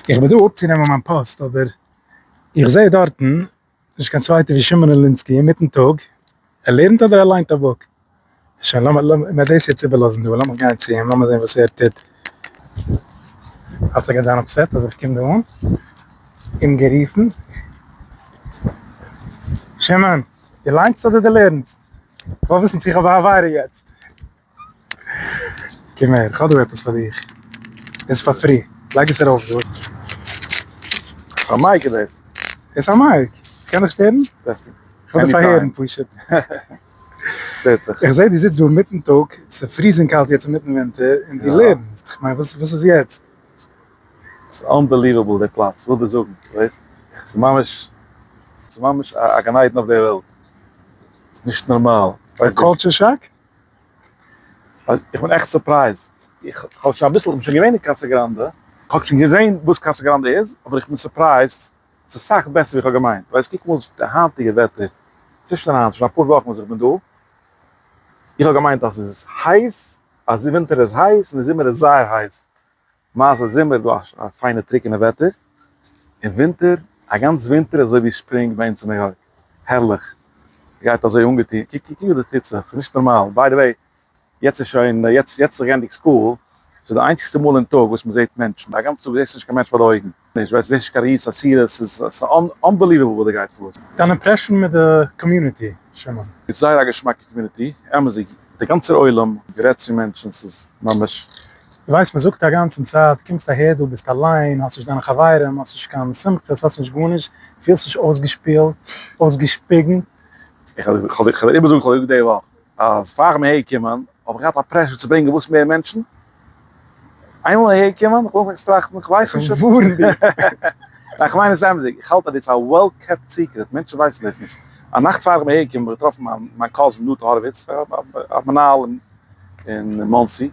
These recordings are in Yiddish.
איך בין דא אפצונעמען מיין פאסט אבער איך זעה דארטן נישט קיין צווייטע ווי שמעון רולינסקי אינמיטן טאג, ער לערנט אדער ער ליינט א בוק? שוין לאמיר לאמיר דאס יעצט איבערלאזן דא, לאמיך גיין צו אים לאמיר זען וואס ער טוט. האלטסט ער גייט זיין אפסעט אז איך קום דא אן אומגערופן? שמעון, דו ליינסט אדער דו לערנסט? איך וויל וויסן צו איך האב א עבירה יעצט. קום הער, כ'האב דא עפעס פאר דיך. איז פאר פרי. לייג עס ארויף דא. א מייק איז דאס? איז א מייק. קען דיך שטערן? טעסטינג. כ'וויל דיך פארהערן פשוט. שטערט זיך. איך זעה דו זיצט דא אינמיטן טאג, ס'איז פריזינג קאלט יעצט אינמיטן ווינטער, און דו לערנסט. כ'מיין וואס איז יעצט? ס'איז אנבעליוועבל די פלאץ. כ'וויל דיר זאגן. וועסט. ס'איז ממש. ס'איז ממש א גן עדן אויף דער וועלט. ס'איז נישט נארמאל. א קולטשער שאק? איך בין עכט סורפרייזד, איך האב שוין אביסל, איך בין שוין געווען אין קאסא גראנדע, איך האב שוין געזען וואס קאסא גראנדע איז, אבער איך בין סורפרייזד, עס איז סאך בעסער ווי איך האב געמיינט, ווייסט קוק מאל די היינטיגע וועטער, עס איז שוין היינט שוין אפאר וואכן וואס איך בין דא, איך האב געמיינט אז עס איז הייס, אז ווינטער איז הייס און די זומער איז זייער הייס, למעשה זומער דא א פיינע טרוקענע וועטער, און ווינטער א גאנץ ווינטער אזוי ווי ספרינג ביי אונז אין ניו יארק, הערליך, מ'גייט אזוי אנגעטון, קוק קוק וואס דא טוט זיך, ס'איז נישט נארמאל, ביי די וועי יעצט איז שוין יעצט יעצט איז זיך גענדיגט סקול, ס'איז די איינציגסטע מאל אין טאג וואס מ'זעט מענטשן, א גאנץ טאג זעסטו נישט קיין מענטש פאר די אויגן. נישט ווייל עס איז נישט קיין ריז אסירה, ס'איז אנבעליוועבל וואס דא גייט פאר. דיין אימפרעשאן מיט די קאמיוניטי, שמעון? איז זייער א געשמאקע קאמיוניטי, אמת'דיג, דער גאנצער עולם גערעדט צו מענטשן, ס'איז ממש. דו ווייסט מען זאגט א גאנצן צייט קומסט אהער דא ביסט אליין, האסט נישט דיינע חברים, האסט נישט קיין שמחות, האסט נישט גארנישט, פילסט נישט אויסגעשפילט, אויסגעשפיגן. איך וועל דיר איבער זאגן, כ'האב געזאגט די וואך אז פארן אהער קומען האב איך געהאט א פרעשור צו ברענגען וואס מער מענטשן איינמאל אהער קומען, האב איך אנגעפאנגען צו טראכטן, איך ווייס נישט אויב ווארען די, ניין איך מיין עס אמת'דיג, איך האלט אז דאס איז א וועל קעפט סיקרעט, מענטשן ווייסן דאס נישט, א נאכט פאר איך בין אהער געקומען האב איך געטראפן מיין מיין קאזין נטע האראוויץ, א מנהל אין אין מאנסי, ער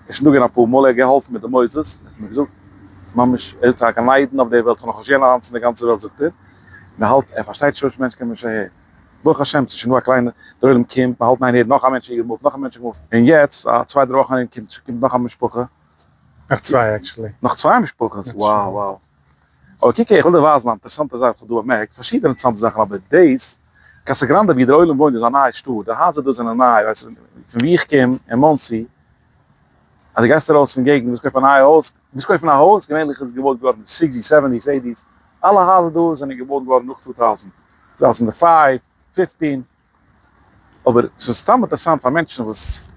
איז שוין דא געווען אפאר מאל, ער האט געהאלפן מיט די מוסדות, ער האט מיר געזאגט ממש ער איז א גן עדן אויף דער וועלט, איך האב נאך נישט געזען אזאנס אין דער גאנצער וועלט זאגט ער, און ער האלט ער פארשטייט שוין וואס מענטשן קומען נישט אהער. ברוך השם ס'איז שוין דא א קליינע, דער עולם קומט, מ'האלט ניין הערן נאך א מענטש איז געמופט, נאך א מענטש איז געמופט, און יעצט א צוויי דריי וואכן ארום קומט קומט נאך א משפחה, נאך צוויי עקטשולי. נאך צוויי משפחות, וואו וואו. אבער קוקי איך וויל דיר ווייזן א אינטערעסאנטע זאך וואס כ'האב דא באמערקט, פארשידענע אינטערעסאנטע זאכן אבער דאס, קאסא גראנדע ווי דער עולם וואוינט איז א נייע שטאט, די הייזער דא זענען ניי, ווייסט פון ווי איך קום, אין מאנסי, אז דו גייסט ארויס פון געגנט, ווילסט קויפן א נייע הויז, ווילסט קויפן א הויז, געווענליך איז עס געבויט געווארן אין די סיקסטיס, סעווענטיס, עיטיס, אלע הייזער דא זענען געבויט געווארן נאך צוויי טויזנט. טאוזענט און פייוו, פיפטין, אבער ס'איז סתם אינטערעסאנט פאר מענטשן וואס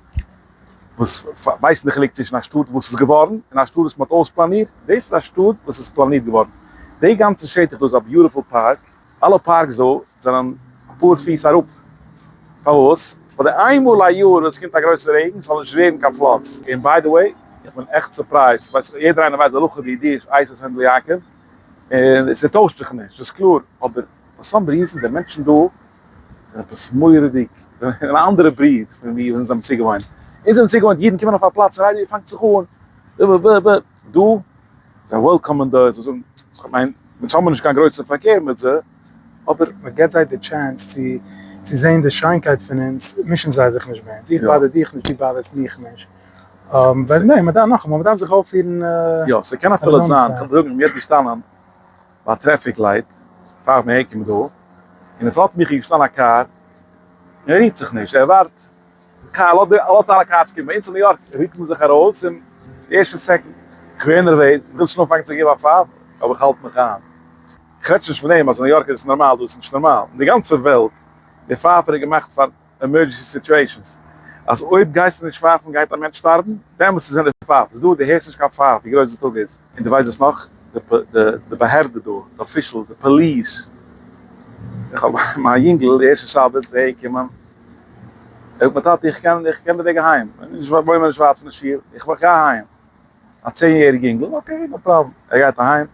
וואס ווייסן די חילוק צווישן א שטאט וואס איז געווארן און א שטאט וואס מ'האט אויספלאנירט, דאס איז א שטאט וואס איז פלאנירט געווארן, די גאנצע שטח דא איז א ביוטיפול פארק, אלע פארקס דא זענען אפאר פיס אראפ, פארוואס? פאר די איין מאל א יאר ווען ס'קומט א גרויסע רעגן ס'זאל נישט ווערן קיין פלאדס, און ביי די וועי איך בין עכט סורפרייזט, כ'ווייס יעדער איינער ווייסט די הלכה בידיש עי' סוסן דליעקב, און עס טוישט זיך נישט, דאס איז קלאר, אבער פאר סאם ריזען די מענטשן דא זענען עפעס מורא'דיג, זענען אין א אנדערע בריד פון ווי אונז זענען צוגעוואוינט, אונז זענען צוגעוואוינט אידן קומען אויף א פלאץ און ריידען פאנגט זיך אן, ב ב ב ב, דא זיי וועלקאמען די, זיי זאגן, איך מיין אונז האבן נישט קיין גרויסע פארקער מיט זיי, אבער. מען געבט זיי די טשענס צו צו זעהן די שיינקייט פון אונז, מישן זיי זיך נישט ביי אונז, איך באדער דיך נישט, דו באדערסט מיך נישט. אבער ניין, מ'דארף נאכאמאל, מ'דארף זיך אויפפירן. יא, ס'קען אפילו זיין, כ'האב געזאגט מ'האט געשטאנען ביי א טרעפיק לייט, פאר מהעקים דא, און אין פראנט מיך איז געשטאנען א קאר, און ער רירט זיך נישט, ער ווארט, קאר, לאז די, לאז אלע קארס קומען, ביי אונז אין ניו יארק רירט מען זיך ארויס אין די ערשטע סעקונד, כ'ווער נערוועז, כ'וויל שוין אנפאנגען צו געבן א פייף, אבער כ'האלט מיך איין. כ'רעד שוין נישט פון דעם אז אין ניו יארק איז עס נארמאל, דא איז עס נישט נארמאל, אין די גאנצע וועלט, די פייפער איז געמאכט פאר. עמערדזשענסי סיטועשאנס אז אויב גייסטו נישט פייפן גייט א מענטש שטארבן, דעמאלטס איז ווען דו פייפסט, דא דו הערסט נישט קיין פייף ווי גרויס די טאג איז, און דו ווייסט וואס נאך, די באהערדע דא, די אפישעלס, די פאליס, איך האב מיין יונגל די ערשטע שבת צו אהער קומען, ער זאגט מיר טאטע איך קען איך קען די וועג אהיים, איך וואוין נישט ווייט פון די שול, איך גיי אהיים, א צען יעריג יונגל, אקעי נאו פראבלעם, ער גייט אהיים,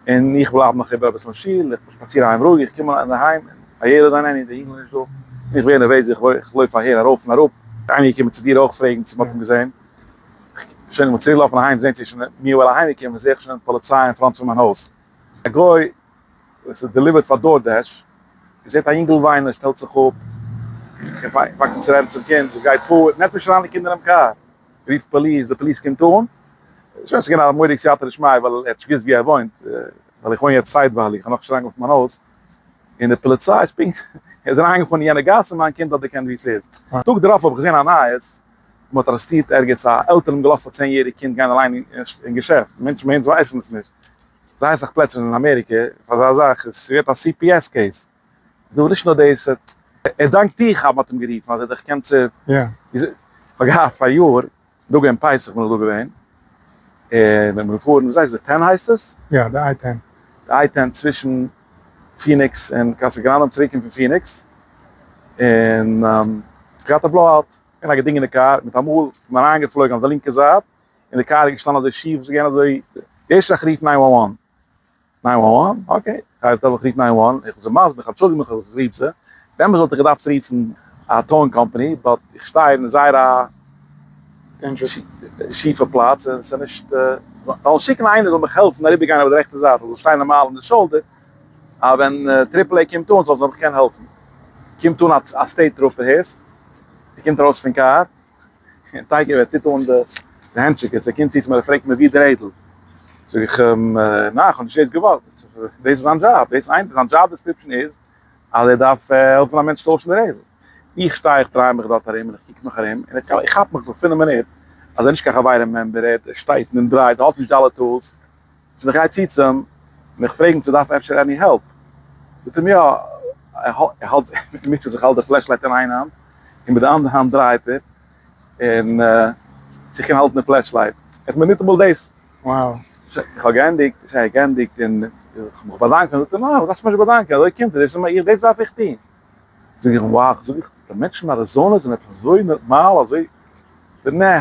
און איך בלייב נאך איבער אביסל אין שול, איך שפאציר אהיים רואיג, איך קום אליין אהיים, און א ילד אינני, דער יונגל איז נישט דא, און איך ווער נערוועז, איך לויף אהער ארויף און אראפ, איינער געקומען צו דיר אויך פרעגן צו מ'האט אים געזען, איך שוין אמאל צוריקגעלאפן אהיים זען צו ער איז שוין מיאל אהיים געקומען, זע איך שוין פאליציי אין פראנט פון מיין הויז, א גוי וואס איז דעליווערט פאר דאור דעש, זעט א יונגל וויינען, שטעלט זיך אפ, און פאנגט אן צו רעדן צום קינד וואס גייט פאר, נעמט נישט אריין די קינדער אינעם קאר. רופט פאליס, די פאליס קומט אן, ס'איז שוין נישט געווען א מורא'דיג סייעתא דשמיא ווייל ער האט נישט געוואוסט ווי ער וואוינט, ווייל איך וואוין יעצט סייט וואלי, איך האב נאך נישט אריין געווארפן מיין הויז, און די פאליציי איז פונקט, ער איז אריין געפארן אין יענע גאס און מיין קינד האט דערקענט ווי ס'איז, טאג דערויף האב איך געזען א נייעס, מען האט ארעסטירט ערגעץ א עלטער האבן געלאזט א צען יעריג קינד גיין אליין אין געשעפט, מענטשן ביי אונז ווייסן עס נישט, זייער אסאך פלעצער אין אמעריקע פאר אזא זאך, עס ווערט א סי פי עס קעיס. נו נישט נאר דאס, ער דאנקט דיר כ'האב מ'האט אים גערופן אז ער דאך קען צו, כ'האב געהאט פאריאר דא געווען פסח בין איך דא געווען, און ווען מ'איז געפארן וואס הייסט די טען הייסט עס? יא די איי טען. די איי טען צווישן פיניקס און קאסא גראנדע און צוריק און פון פיניקס, און כ'האב געהאט א בלאו אוט און א געדינגענע קאר, מיט אמאל איז מען אריינגעפלויגן אויף די לינקע זייט און די קאר איז געשטאנען אזוי שיף, ס'איז געווען אזוי, די ערשטע זאך רוף ניין וואן וואן. ניין וואן וואן? אקעי, כעת וועל איך רופן ניין וואן, איך בין זיי מסביר, כ'האב שוין געמאכט אז איך ריף זיי, דעמאלטס וואלט איך געדארפט רופן א טאון קאמפאני, באט איך שטיי אין זייער א שיפע פלאץ און ס'איז נישט, זאלן שיקן איינער זאל מיך העלפן אריבער גיין אויף די רעכטע זייט, איך זאל שטיין נארמאל אין די שאלדער, אז ווען טריפל עי קומט אן זאל זיי מיך קענען העלפן, קומט אן א סטעיט טרופער, הערסט? ער קומט ארויס פון קאר. און טײַגער װעט טוט אָן די הענטשיקעס, ער קומט צו צו מיר, ער פֿרעגט מיר, װוּ איז דער רעדל? זאָג איך אים, נײן, איך האָב נישט דאָס געװאָלט. דאָס איז זײַן דזשאָב, דאָס איז אײנס, זײַן דזשאָב-דיסקריפּשאָן איז, אַז ער דאַרף העלפֿן אַ מענטש טױשן די רעדל. איך שטײ, איך דרײ מיך דאָרט אַרום און איך קוק מיך אַרום, און איך כאַפּ מיך דורך פֿינף מינוט, אַז ער איז נישט קײן חבֿרה-מעמבער, ער שטײט און דרײט, ער האָט נישט די אַלע טולס. צו איך גיי צו צום מיך פרעגן צו דארף ער אפשר עני העלפ, זאגט אים יא, ער האלט זיך מוטשעט זיך האלט די פלעשלייט אין איין האנט און מיט די אנדערע האנט דרייעט ער און צו קען האלטן די פלעשלייט, ער האט מיר ניטאמאל דאס. איך האב געענדיגט, איך זאג ער האט געענדיגט און איך האב מיך באדאנקט, זאגט ער ניין דארפסט מיך נישט באדאנקען אזוי קומט עס, דאס איז מיר איך דאס דארף איך טון. זאג איך אים וואך זאג איך די מענטשן אין אריזאנע זענען עפעס אזוי נארמאל אזוי די נע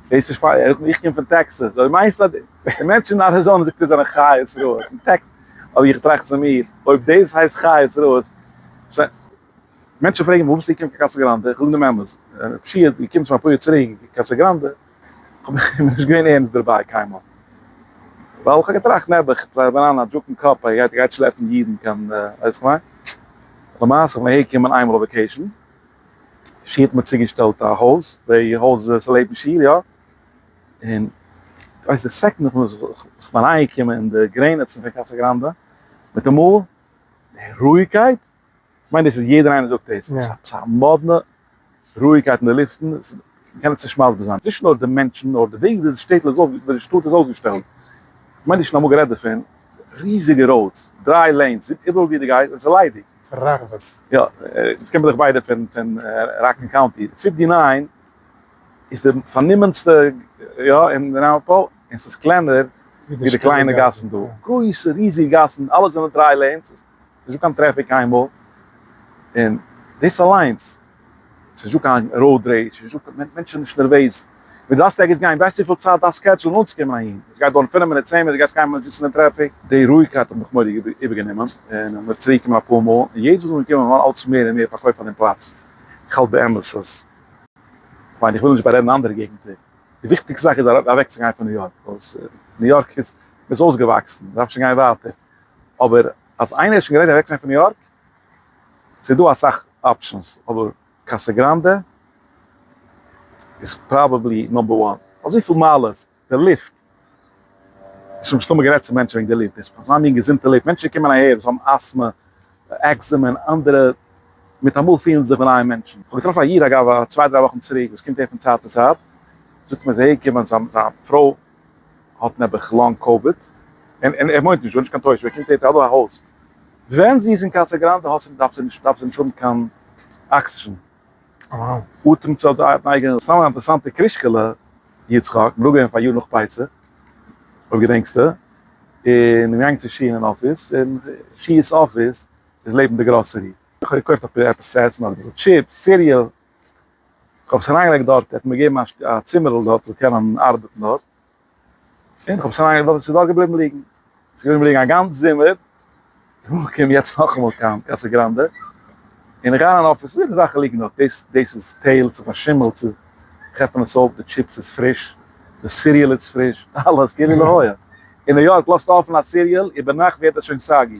דאס איז פאר איך איך קום פון טעקסעס זאג מיינסט אז די מענטשן אין אריזאנע זאגט ער זענען חיות רעות אין טעקסעס אבער איך טראכט צו מיר אויב דאס הייסט חיות רעות ש. מענטשן פרעגן מיר פארוואס איר קומט קיין קאסא גראנדע איך זאג דעם אמת פשיהא איר קומט פון אפאר יאר צוריק קאסא גראנדע כ'בין נישט געווען ערנסט דערביי קיינמאל. ווייל כ'האב געטראכט נעבעך פאר א בנן א דזשאוק אין קאפ אז ער גייט גייט שלעפן אידן קיין ווייסט וואס כ'מיין. למעשה כ'בין אהער געקומען איינמאל אויף וועקעישן. שי האט מיר צוגעשטעלט א הויז. די הויז איז לעבן שי יא. און כ'ווייס די סעקנד נאכדעם וואס כ'בין אריינגעקומען אין די גרעניצן פון קאסא גראנדע מיט אמאל די רואיגקייט. כ'מיין דאס איז יעדער איינער זאגט דאס, ס'איז א מאדנע רואיגקייט אין די לופטן, מ'קען עס נישט מסביר זיין, נישט נאר די מענטשן, נאר די וועג די שטעטל איז אויף, די שטאט איז אויסגעשטעלט, כ'מיין דו האסט שוין אמאל גערעדט דערפון, ריזיגע ראודס, דריי לעינס, איבעראל ווי דו גייסט איז ליידיג. פארראכוועס. יא, אונז קען מען דאך ביידע פון פון ראקלענד קאונטי, פיפטי ניין איז די פארנומענסטע יא אין ראמאפאו, און ס'איז קלענער ווי די קליינע גאסן דא, גרויסע ריזיגע גאסן, אלע זענען דריי לעינס. נישט דא קיין טרעפיק קיינמאל, און דאס אליינס, ס'נישט דא קיין ראוד רעידזש, ס'נישט דא קיין, מענטשן זענען נישט נערוועז, ווי דו דארפסט ערגעץ גיין, ווייסטו וויפיל צייט דו דארפסט סקעדזשועלן אנצוקומען אהין, עס גייט דויערן פינף מינוט, צען מינוט, דו גייסט קיינמאל נישט זיצן אין טרעפיק. די רואיגקייט האט מיך מורא'דיג איבערגענומען, און איך בין צוריק געקומען אפאר מאל, און יעדעס מאל איך בין געקומען האט מען אלץ מער און מער פארקויפט פאר דעם פלאץ, איך האלט באמת אז, איך מיין איך וויל נישט בארעדן אנדערע געגנטער, די וויכטיגסטע זאך איז אוועקצוגיין פון ניו יארק, ווייל ניו יארק איז, מען איז אויסגעוואקסן, מען דארף נישט גיין ווייטער. אבער אז איינער איז שוין גרייט אוועקצוגיין פון ניו יארק, ס'איז דא אסאך אפשענס, אבער קאסא גראנדע איז פראבעבלי נאמבער וואן. פאר אזויפיל מעלות, די ליפט, איך האב מסתמא גערעדט צו מענטשן וועגן די ליפט, דאס אזא מין געזונטע ליפט, מענטשן קומען אהער וואס האבן אסטמא, עקזעמע און אנדערע, מיטאמאל פילן זיי זיך ווי נייע מענטשן. איך האב געטראפן א איד אגב צוויי דריי וואכן צוריק וואס קומט אהער פון צייט צו צייט, זאגט מיר זי העי קומען זיין פרוי, האט נעבעך לאנג קאוויד און ער וואוינט נישט דא, נישט קיין טויש, ווען ער קומט הערט ער אדער א הויז. ווען זי איז אין קאסא גראנדע האט זי, דארף זי נישט, דארף זי נישט האבן קיין אקסידזשען. אטעמט זי, האט זי אן אייגענע. סתם אן אינטערעסאנטע קרישקעלע, יצחק, מיר דא געווען פאריאר נאך פסח, אויב געדענקסטו, און מיר זענען געגאנגען צו שי און אפיס, און שי'ס אפיס איז לעבן די גראסערי. איך האב געקויפט א פאר עפעס צו עסן, אדער צ'יפס, סיריעל, כ'האב עס אריינגעלייגט דארט, ער האט מיר געגעבן א צימערל דארט זאל קענען ארבעטן דארט, און כ'האב עס אריינגעלייגט דארט און עס איז דארט געבליבן ליגן, עס איז געבליבן ליגן א גאנץ זומער, איך קום יעצט נאכאמאל קיין קאסא גראנדע, און איך גיי אריין אין אפיס, די זאכן ליגן דארט, דאס דאס איז סטעיל, ס'איז פארשימלט, ס'איז, איך עפן עס אויף, די טשיפס איז פריש, די סיריעל איז פריש, אלעס כאילו לא היה, אין ניו יארק לאזט אפן א סיריעל, איבערנאכט ווערט עס שוין סאגי.